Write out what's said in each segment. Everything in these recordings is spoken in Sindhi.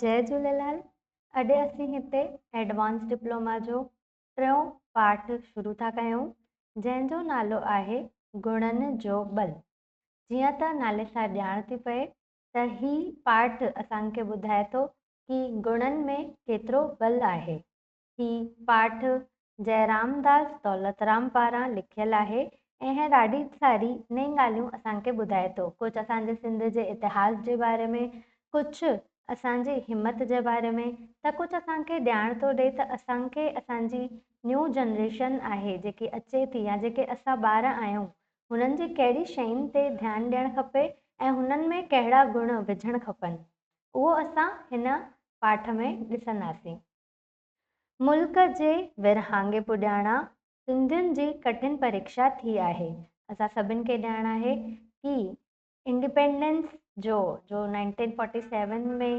جي جهوليلال اڄ اسين هتي ايڊوانس ڊپلوما جو ٽيون پاٺ شروع ٿا ڪيون جنهن جو نالو آهي گڻن جو ٻل جيئن ته نالي سان ڄاڻ ٿي پئي ته هي پاٺ اسان کي ٻڌائي ٿو ڪي گڻن ۾ ڪيترو ٻل آهي هي پاٺ جئرامداس دولترام پاران لکيل آهي ۽ ڏاڍي ساري نئين ڳالهيون اسان کي ٻڌائي ٿو. ڪجهه اسان جي سنڌ جي اتهاس جي باري ۾، ڪجهه اسان جي همت جي باري ۾ ته ڪجهه اسان کي ڄاڻ ٿو ڏئي ته اسان کي اسان جي نيو جنريشن آهي جيڪي اچي ٿي يا جيڪي اسان ٻار آهيون هنن جي ڪهڙي شين تي ڌيان ڏيڻ کپي ۽ هنن ۾ ڪهڙا گڻ وجهڻ کپن اهو اسان هن پاٺ ۾ ڏسنداسين. ملڪ جي ورهاڱي پڄاڻا سنڌين جي ڪٺن پريڪشا ٿي آهي. اسان سڀن کي ڄاڻ آهي ڪي انڊيپينڊنس جو جو اڻيوري سؤ چوارنجهه ۾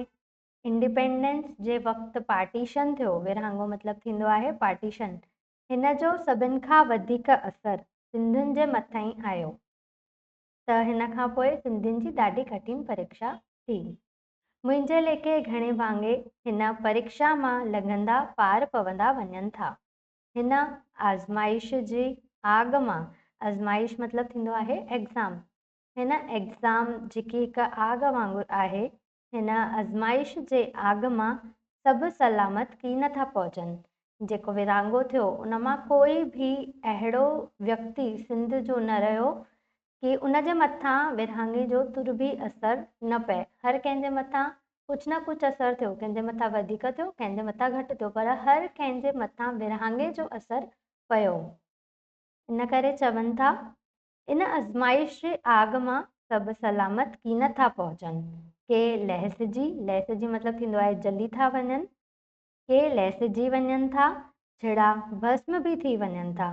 انڊيپينڊنس جي وقت پارٽيشن ٿيو، ورهاڱو مطلب ٿيندو آهي پارٽيشن، هن جو سڀن کان وڌيڪ اثر سنڌين جي مٿئين آيو ته هن کان پوء سنڌين جي ڏاڍي ڪٺين پريڪشا ٿي. منهنجي ليکي گهڻي ڀاڱي هن پريڪشا مان لنگهندا پار پوندا وڃن ٿا. هن آزمائش جي آڳ مان، آزمائش مطلب ٿيندو آهي ايگزام، هن ايگزام جيڪي هڪ آڳ وانگر آهي، هن آزمائش جي آڳ مان سڀ سلامت ڪي نه ٿا پهچن. جيڪو ورهاڱو ٿيو ان مان ڪوئي ڀي اهڙو ويڪتي سنڌ جو نه رهيو ڪي ان جي مٿان ورهاڱي جو تر به اثر نه پئي. هر ڪنهن جي مٿان ڪجهه نه ڪجهه اثر ٿيو. ڪنهن جي مٿان وڌيڪ ٿيو، ڪنهن جي مٿان گهٽ ٿيو، پر هر ڪنهن جي مٿان ورهاڱي جو اثر پيو. ان ڪري چون ٿا، ان آزمائش جي آگ مان سڀ سلامت ڪي نه ٿا پهچن. ڪي لهسجي، لهسجي مطلب ٿيندو آهي جلي ٿا وڃن. ڪي لهسجي وڃن ٿا، ڇڙا ڀسم به ٿي وڃن ٿا.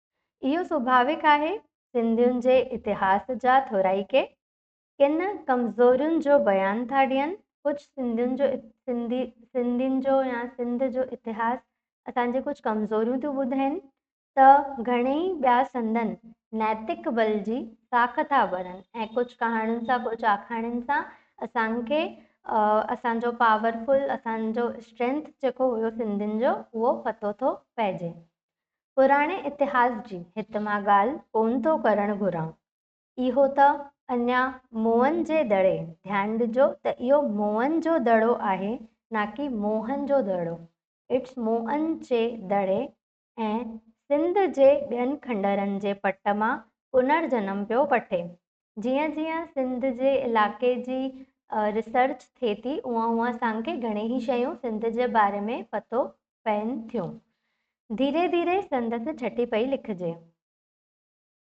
اهو سوڀاويڪ آهي، سنڌين جي اتهاس جا ٿورائڪي ڪن ڪمزورين جو بيان ٿا ڏين، ڪجهه سنڌين جو سنڌي سنڌين جو يا سنڌ جو اتهاس اسان جي ڪجهه ڪمزوريون ٿيون ٻڌين ته گهڻيئي ٻيا سندن نيتڪ بل جي ساک ٿا ڀرن ۽ ڪجهه ڪهاڻين سان ڪجهه آکاڻين سان اسان کي اسان جو پاورفل اسان جو اسٽرينٿ جيڪو هيو سنڌين جو اهو پتو ٿو پئجي. پراڻي اتهاس جي هت مان ڳالهه ڪونه ٿو ڪرڻ گهران. اهو ته اڃا موئن جي دڙي، ڌيان ڏجو ته اهو موئن جو دڙو آهي نه ڪي موهن جو دڙو، It's Mohan جي دڙي ۽ سنڌ جي ٻين کنڊرن جي پٽ مان پنر جنم پيو وٺي. جيئن جيئن سنڌ جي علائقي جي ريسرچ ٿئي ٿي اونء اونء اسان کي گهڻي ئي شيون سنڌ جي باري ۾ پتو پين ٿيون. ڌيري ڌيري سندس ڇٽي پئي لکجي.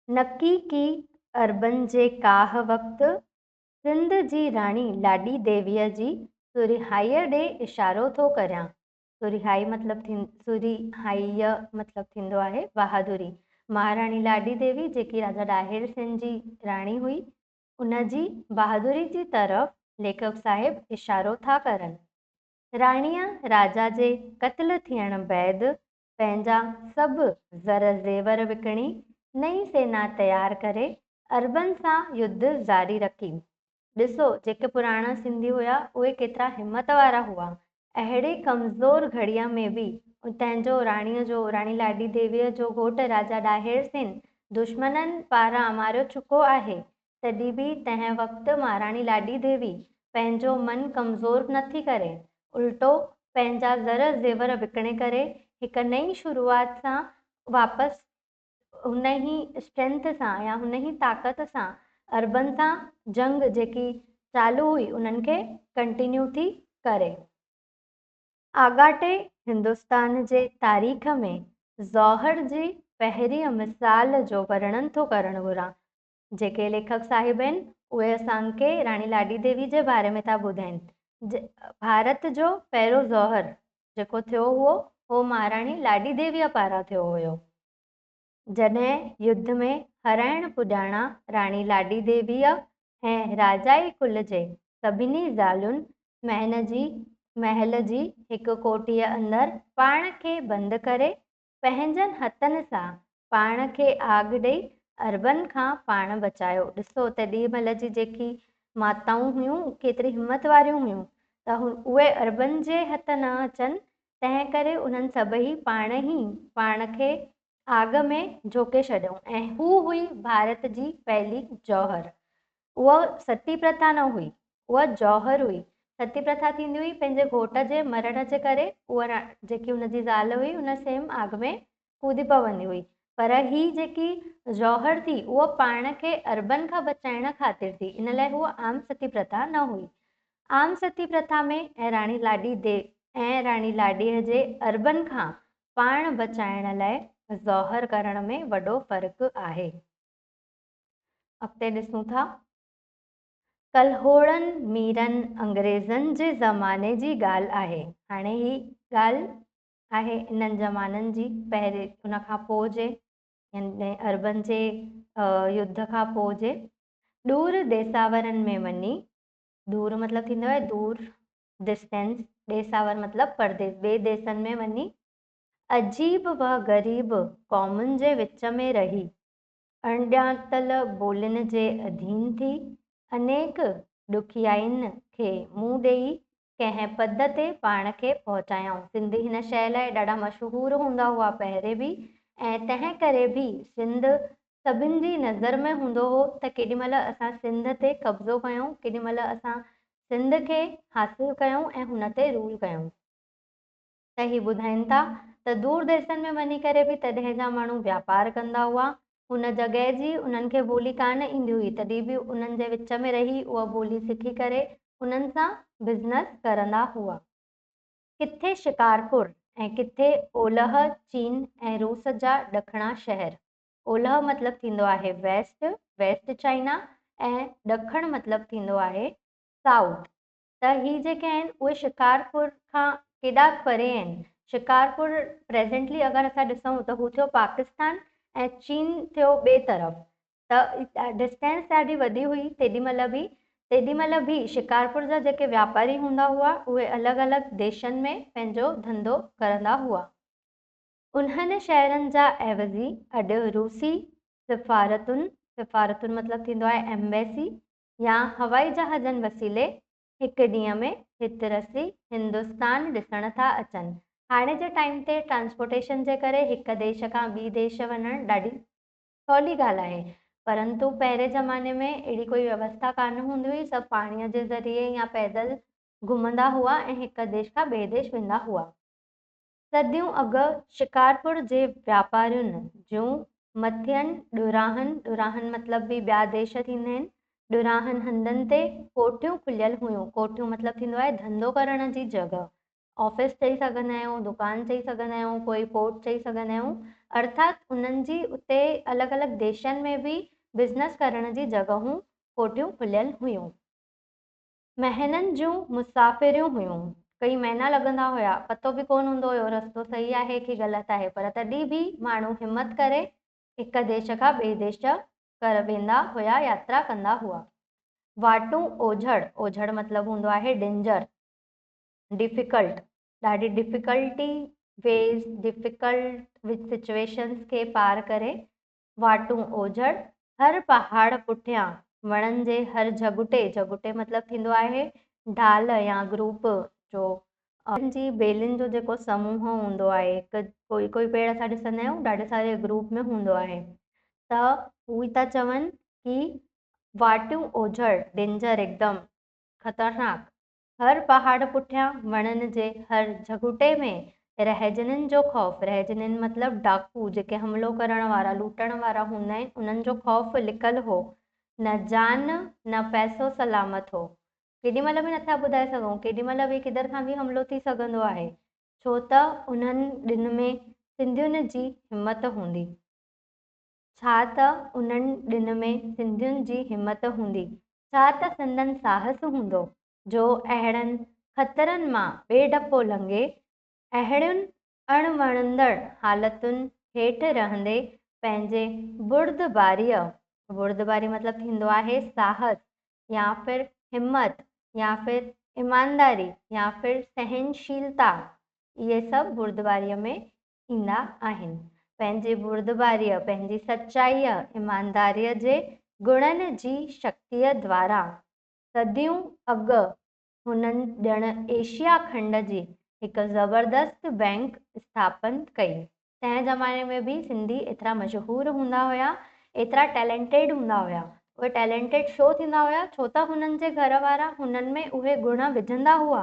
نڪي ڪي عربن جي ڪاهه وقت سنڌ جي راڻي لاڏي ديويء جي سورهيائيء ڏي اشارو ٿو ڪريان. سورهيائي مطلب سورهيائي يا مطلب ٿيندو آهي بهادري. مهاراڻي لاڏي ديوي جيڪي راجا ڏاهر سين جي راڻي هئي ان جي بهادري جي طرف ليکڪ صاحب اشارو ٿا ڪرن. راڻيء راجا جي قتل ٿيڻ بعد پنهنجا سڀ زر زيور وڪڻي نئين سينا تيار ڪري عربن سان يڌ جاري رکي. ڏسو جيڪي پراڻا سنڌي هيا اهي ڪيترا همت وارا هئا اهڙي ڪمزور گهڙيء ۾ به اتان جو راڻيء جو راڻي لاڏي ديويء جو گهوٽ راجا ڏاهر سين دشمنن پاران ماريو چڪو آهي تڏهن به تنهن وقت مهاراڻي لاڏي ديوي پنهنجو من ڪمزور نه ٿي ڪري الٽو پنهنجا زر زيور وڪڻي ڪري هڪ نئين شروعات سان واپس انهي اسٽرينٿ سان يا انهي طاقت سان عربن سان جنگ جيڪي چالو هئي انهن کي ڪنٽينيو ٿي ڪري. آڳاٽي هندستان جي تاريخ ۾ زوهر جي پهرين مثال جو ورڻن ٿو ڪرڻ گهران. جيڪي ليکڪ صاحب آهن، اهي اسان کي راڻي لاڏي ديوي جي باري ۾ ٿا ٻڌائين. ڀارت جو پهريون زهر جيڪو ٿيو هئو، اهو مهاراڻي لاڏي ديويء پاران ٿيو هيو. جڏهن يڌ ۾ هرائڻ پڄاڻا راڻي لاڏي ديويء ۽ راجائي ڪل جي سڀني زالين مهن جي محل جي هڪ ڪوٺيء اندر پاڻ کي بند ڪري پنهنجن هٿن سان پاڻ کي آگ ڏئي عربن کان پاڻ بچايو. ڏسو ته ڏي مھل جي جيڪي ماتائون هيون ڪيتري همت واريون هيون ته اهي عربن جي هٿ نه اچن تنهن ڪري انهن سڀئي پاڻ ئي پاڻ کي آگ ۾ جهوڪي ڇڏيو ۽ هو هئي ڀارت جي پهلي جوهر اها ستي پرٿا نه هئي، اها جوهر هئي. ستي پرٿا ٿيندي هئي پنهنجي گهوٽ جي مرڻ جي ڪري اها را جيڪي هن جي زال هئي ان سيم آگ ۾ ڪودي پوندي هئي پر هي جيڪي جوهر ٿي اها پاڻ کي اربن کان بچائڻ خاطر ٿي ان لاء هوء عام ستي پرٿا نه هئي. عام ستي پرٿا ۾ ۽ راڻي لاڏي دي ۽ راڻي لاڏيء جي اربن کان پاڻ بچائڻ لاء جوهر ڪرڻ ۾ وڏو فرق آهي. اڳتي ڏسون ٿا. ڪلهوڙن ميرن انگريزن جي زماني جي ڳالهه آهي. هاڻي هي ڳالهه آهي انهن زمانن جي پهرين ان کان پوء جي يعني عربن جي يڌ کان پوء جي ڏور ڏيساورن ۾ وڃي ڏور مطلب ٿيندو آهي دور ڊسٽينس ڏيساور مطلب پرديس ٻي ديسن ۾ وڃي عجيب و غريب قومن جي وچ ۾ رهي اڻڄاتل ٻولين جي اڌين ٿي، انيڪ ڏکيائين کي منهن ڏيئي ڪنهن پد تي پاڻ کي پهچايائون. سنڌي هن شيء لاء ڏاڍا مشهور هوندا هئا پهرين به ۽ تنهن ڪري به سنڌ سڀن جي نظر ۾ هوندو هو ته ڪيڏي مهل اسان سنڌ تي قبضو ڪيون، ڪيڏي مهل اسان سنڌ کي حاصل ڪيون ۽ هن تي رول ڪيون. ته هي ٻڌائين ٿا ته دور ديسن ۾ وڃي ڪري به تڏهن جا ماڻهو واپار ڪندا هئا، ان جڳهه جي انهن کي ٻولي ڪانه ايندي هئي تڏهن به انهن جي وچ ۾ رهي اها ٻولي سکي ڪري انهن سان بزنس ڪرندا هئا. ڪٿي شڪارپور ۽ ڪٿي اولهه چين ۽ روس جا ڏکڻا شهر، اولهه مطلب ٿيندو آهي ويسٽ، West China، ۽ ڏکڻ مطلب ٿيندو آهي South، ته هي جيڪي آهن اهي شڪارپور کان ڪيڏا پري آهن. شڪارپور پريزينٽلي اگر اسان ڏسون ته هو ٿيو پاڪستان ۽ چين ٿيو ٻئي طرف ته ڊسٽينس ڏاڍي وڏي هئي تيڏي مهل به تيڏي مهل به شڪارپور جا جيڪي واپاري هوندا هئا اهي الڳ الڳ ديشن ۾ پنهنجو ڌنڌو ڪرندا هئا. انهن شهرن جا عيوضي اڏ روسي سفارتن، سفارتن مطلب ٿيندو آهي ايمبيسي، يا هوائي جهازن وسيلي هڪ ڏينهن ۾ هت رسي هندستان ڏسڻ ٿا اچن. هاڻي جي ٽائيم تي ٽرانسپورٽيشن جي ڪري هڪ ديش کان ٻي ديش وڃڻ ڏاڍي سولي ڳالهه آهي پرنتو پهرين زماني ۾ اهڙي ڪوئي ويوسٿا ڪانه هوندي هئي سڀ پاڻيء جي ذريعي يا پيدل گهمندا هئا ۽ هڪ ديش کان ٻئي ديش ويندا هئا. صديون اڳ شڪارپور جي واپارين جون مٿين ڏوراهن، ڏوراهن مطلب به ٻيا ديش ٿيندا آهن، ڏوراهن هنڌن تي ڪوٺيون کليل هيون، ڪوٺيون مطلب ٿيندو آهي ڌنڌو ڪرڻ جي جڳهه، آفيس چئي سگهندا آهيون، دڪان چئي سگهندا آهيون، ڪوئي پورٽ چئي سگهندا آهيون، ارٿات انهن جي اتي الڳ الڳ ديشن ۾ به بزنس ڪرڻ جي جڳهون، ڪوٺيون کليل هيون. مهينن جون مسافريون هيون. ڪيئي مهينا لڳندا هيا. پتو به ڪونه هوندو هيو رستو صحيح آهي ڪي غلط آهي پر تڏهن به ماڻهو همت ڪري هڪ ديش کان ٻئي ديش ڪر ويندا هيا ياترا ڪندا هئا. واٽون اوجهڙ، اوجهڙ مطلب هوندو آهي ڊينجر، ڊفيڪلٽ، ڏاڍي ڊفيڪلٽي، ويز، ڊفيڪلٽ وچ سچويشنز کي پار ڪري واٽون اوجهڙ، هر پهاڙ پٺيان وڻن جي هر جهڳٽي، جهڳٽي مطلب ٿيندو آهي ڍال يا گروپ جو، ان جي ٻيلين جو جيڪو سموهه هوندو آهي، ڪوئي ڪوئي پيڙ اسان ڏسندا آهيون ڏاڍي ساري گروپ ۾ هوندو آهي ته هو هي ٿا چون ڪي واٽون اوجهڙ، Danger، هڪدم خطرناڪ، هر پهاڙ پٺيان، وڻن جي هر جهڳوٽي ۾ رهجنين جو خوف، رهجنين مطلب ڊاڪو، جيڪي حملو ڪرڻ وارا، لوٽڻ وارا هوندا آهن، انهن جو خوف لڪل هو. نه جان، نه پئسو سلامت هو. ڪيڏي مهل به نٿا ٻڌائي سگهون، ڪيڏي مهل به ڪڌر کان به حملو ٿي سگهندو آهي، ڇو ته انهن ڏينهن ۾ سنڌين جي همت هوندي. ڇا ته انهن ڏن ۾ سنڌين جي همت هوندي، ڇا ته سندن ساهس هوندو، جو اهڙن خطرن مان بي ڊپو لنگهي، اهڙين اڻ وڻندڙ حالتن هيٺ رهندي پنهنجي بردباريء، بردباري مطلب ٿيندو آهي ساهس يا پھر همت يا پھر ايمانداري يا پھر سهنشيلتا، اهي سڀ بردباريء ۾ ايندا آهن. پنهنجي بردباريء، پنهنجي سچائيء، ايمانداريء جي گڻن جي شڪتيء دواران صديون اڳ هنن ڄڻ ايشيا کنڊ جي هڪ زبردست بئنڪ اسٿاپن ڪئي. تنهن زماني ۾ به سنڌي ايترا مشهور هوندا هيا، ايترا ٽيلينٽيڊ هوندا هيا. اهي ٽيلينٽيڊ شو ٿيندا هيا ڇو ته هنن جي گهر وارا هنن ۾ اهي گڻ وجهندا هئا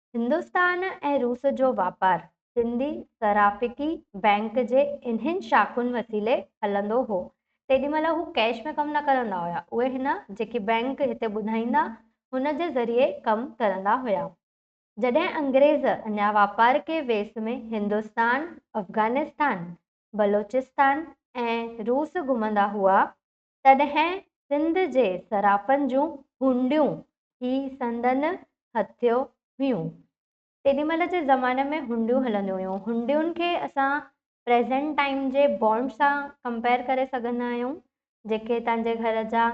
هندستان ۽ روس جو واپار سنڌي صرافڪي بئنڪ جي انهن شاخن وسيلي هلندو هو. تيڏي مهل هو ڪئش ۾ ڪم نه ڪرندا هيا. اهي هن جيڪي بئنڪ هتي ٻڌائيندا، هن جي ذريعي ڪم ڪرندا هيا. جڏهن انگريز اڃا واپار ڪي ويس ۾ هندستان، افغانستان، بلوچستان ۽ روس گهمندا هئا، تڏهن سنڌ جي صرافن جون هونڊيون ٿي سندن هٿيو هيون. تيڏي مهل جي زماني ۾ هونڊيون هلنديون هيون. هونڊين کي اسان پريزنٽ ٽائيم جي بانڊ سان ڪمپيئر ڪري سگهندا آهيون. جيڪي توهان جي گهر جا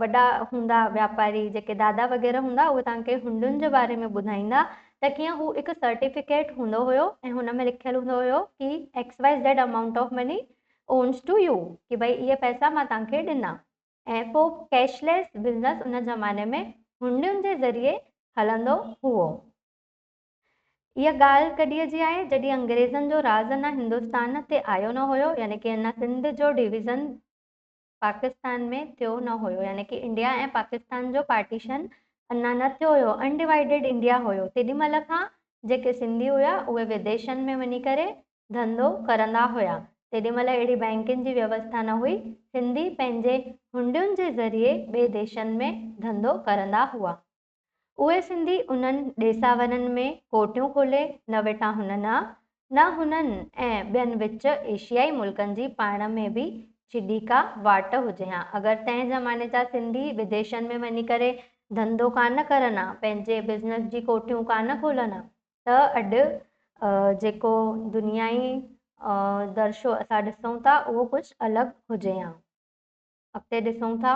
وڏا هوندا واپاري جيڪي دادا وغيره هوندا اهي توهان کي هونڊين جي باري ۾ ٻڌائيندا ته ڪيئن هو هڪ سرٽيفڪيٽ هوندو هيو ۽ هن ۾ لکيل هوندو هيو ڪي XYZ amount of money owns to you ڪي ڀئي اهي پئسا مان توهان کي ڏنا ۽ پوء ڪيش ليس بزنس ان زماني ۾ هنڊين جي ذريعي هلندو هئو اها ڳالهه ڪڏهن جي آهي جڏهن انگريزن جو راز اڃا هندستان تي آيو نه هيو يعني ڪي اڃا سنڌ جو ڊويزن پاڪستان ۾ ٿيو نه هيو يعني ڪي انڊيا ۽ پاڪستان جو پارٽيشن اڃا نه ٿيو هيو ان ڊوائيڊيڊ انڊيا هيو تيڏي مهل کان جيڪي سنڌي هيا اهي وديشن ۾ وڃي ڪري ڌنڌو ڪرندا هيا تيڏي مهل اهڙي بئنڪن جي ويوسٿا نه هئي سنڌي پنهنجي هنڊين جي ذريعي ٻي ديشن ۾ ڌنڌو ڪرندا هئا. اهي سنڌي انهن ڏيساورن ۾ ڪوٽيون کولي نه ويٺا هونن ها، نه هنن ۽ ٻين وچ ايشيائي ملڪن جي پاڻ ۾ به چيڏي ڪا واٽ هجي ها. اگر تنهن زماني جا سنڌي بديشن ۾ وڃي ڪري ڌنڌو ڪانه ڪرن ها، پنهنجي بزنس جي ڪوٺيون ڪانه کولن ها ته اڏ جيڪو دنيائي درشو اسان ڏسون ٿا اهو ڪجهه الڳ هجي ها. اڳتي ڏسون ٿا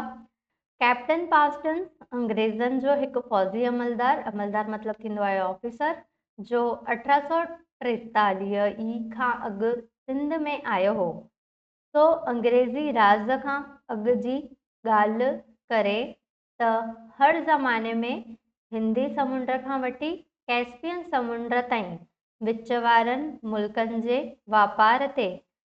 ڪئپٽن پاسٽن انگريزن جو هڪ فوجي عملدار، عملدار مطلب ٿيندو آهي آفيسر، جو اٺ سؤ ٽيتاليهه ئي کان اڳ سنڌ ۾ آيو هو، سو انگريزي راز کان اڳ جي ڳالهه ڪري ته هر زماني ۾ هندي سمنڊ کان وٺي ڪئسپين سمنڊ تائين وچ وارن ملڪن جي واپار تي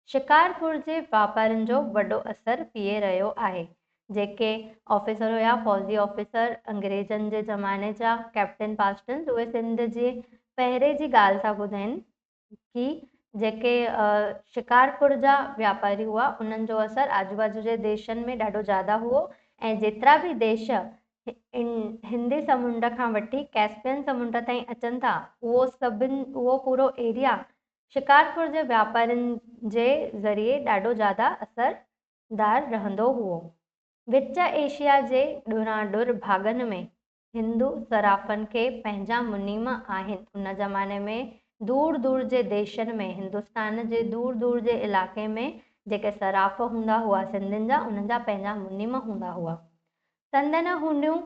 شڪارپور جي واپارين جو وڏو اثر پيئي رهيو آهي. جيڪي آفيسر هيا فوجي آفيسر انگريزن جي زماني جا ڪئپٽن پاسٽنز اهي سنڌ جي پهري جي ڳالهه ٿا ٻڌائين ڪي جيڪي شڪارپور جا واپاري هئا انهن جو اثر آجو باجو جي ديشن ۾ ڏاڍو زياده هئو ۽ جيترا به ديش هندي سمنڊ کان وٺي ڪيسپين سمنڊ تائين اچن ٿا اهو سڀن اهو پورو ايريا شڪارپور جي واپارين جي ذريعي ڏاڍو زياده اثر دار رهندو هئو وچ ايشيا جي ڏوران ڏور ڀاڳن ۾ هندو صرافن کي پنهنجا منيما آهن. ان زماني ۾ دور دور جي ديشن ۾، هندستان جي دور دور جي علائقي ۾، جيڪي صراف هوندا هئا سنڌين جا، انهن جا پنهنجا منيما هوندا هئا. سندن هونيون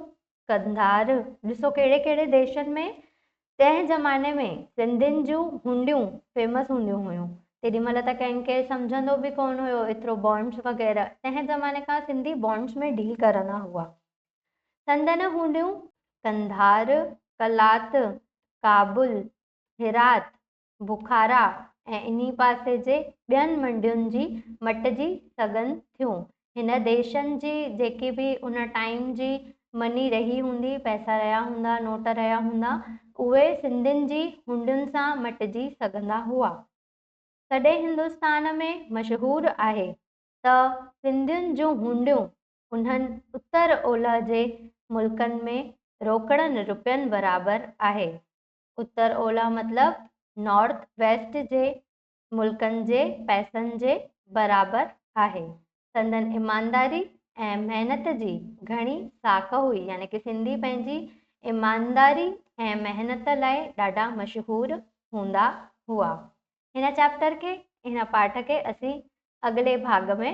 قنڌار، ڏسو ڪهڙي ڪهڙي ديشن ۾، تنهن زماني ۾ سنڌين جون هونڊيون فيمس هونديون هيون. تيڏي مهل ته ڪنهن کي سمجهندو به ڪونه هيو ايترو بانڊز وغيره، تنهن زماني کان سنڌي بانڊز ۾ ڊيل ڪرندا هئا. سندن هونڊيون قنڌار، قلات، ڪابل، هرات، بخارا ۽ انهي پاسي جي ٻين منڊين جي مٽجي سگهن ٿيون. هن ديشن جي جيڪي به ان ٽائيم جي مني رهي هوندي، پئسا رهيا هوندا، نوٽ رهيا هوندا، اهي سنڌين جي هونڊين سان مٽجي سگهندا هئا. سڏي هندستان ۾ مشهور آهي ته سنڌين جون هونڊيون انهن اتر اولهه جي ملڪن ۾ روڪڙن رپين برابر آهي. اتر اولهه مطلب نارٿ ويسٽ جي ملڪن جي پئسن جي برابر آهي. سندن ايمانداري ۽ محنت جي گهڻي ساک هئي يعني ڪه سنڌي پنهنجي ايمانداري ۽ محنت لاء ڏاڍا مشهور هوندا هئا. هن چئپٽر کي هن پاٺ کي اسين اڳلي ڀاڳ ۾